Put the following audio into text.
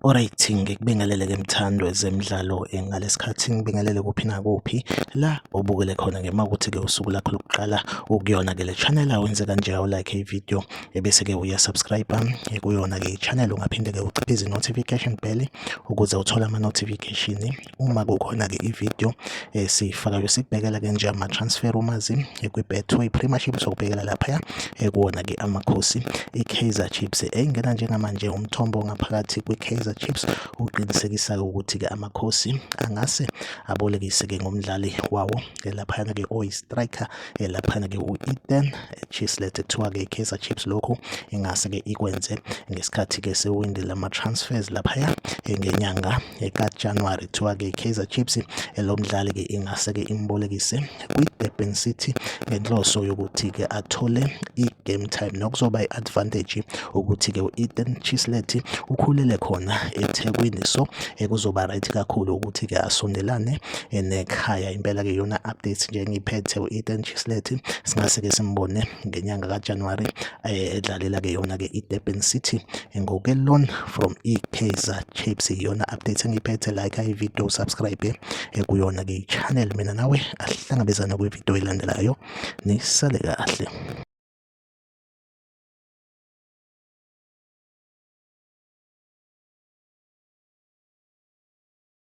Alright, ngikubingelele ke mthando ezemidlalo eh, ngalesikhathi ngibingelele kuphi nakuphi la obukele khona ngema ukuthi ke usuku lakho lokuqala ukuyona ke le channel awenze kanje awu like i video ebese-ke uyasubscribe kuyona-ke i-channel ungaphinde-ke uciphe izi-notification bell ukuze uthole ama-notification uma kukhona-ke i-video esiyifakayo sikubhekela-ke nje ama-transfer umazi kwi-betway premiership sokubhekela laphaya kuwona-ke amakhosi i-kaizer chips engena njengamanje umthombo ngaphakathi kwi-kaizer chips uqinisekisa-ke ukuthi-ke amakhosi angase abolekise-ke ngomdlali wawo laphayana-ke oyi-striker eh, laphana-ke u-eden chislet kuthiwa-ke i-kaizer chips lokhu ingase-ke ikwenze ngesikhathi-ke sewindi lama-transfers laphaya eh, ngenyanga eh, kajanuwari kuthiwa-ke i-kaizer chips lo mdlali-ke ingase-ke imbolekise kwi-durban city ngenhloso yokuthi-ke athole game time nokuzoba i-advantage ukuthi-ke u-ethan chislet ukhulele khona ethekwini so kuzoba right kakhulu ukuthi-ke asondelane nekhaya impela-ke yona update nje engiyiphethe u-ethan chislet singase-ke simbone ngenyanga kajanuwari eh, edlalela-ke yona-ke idurban city ngokelon from ikaizer chips iyona update engiyiphethe like ivideo subscribe eh, kuyona-ke i-channel mina nawe asihlangabezane kwivideo elandelayo nisale kahle.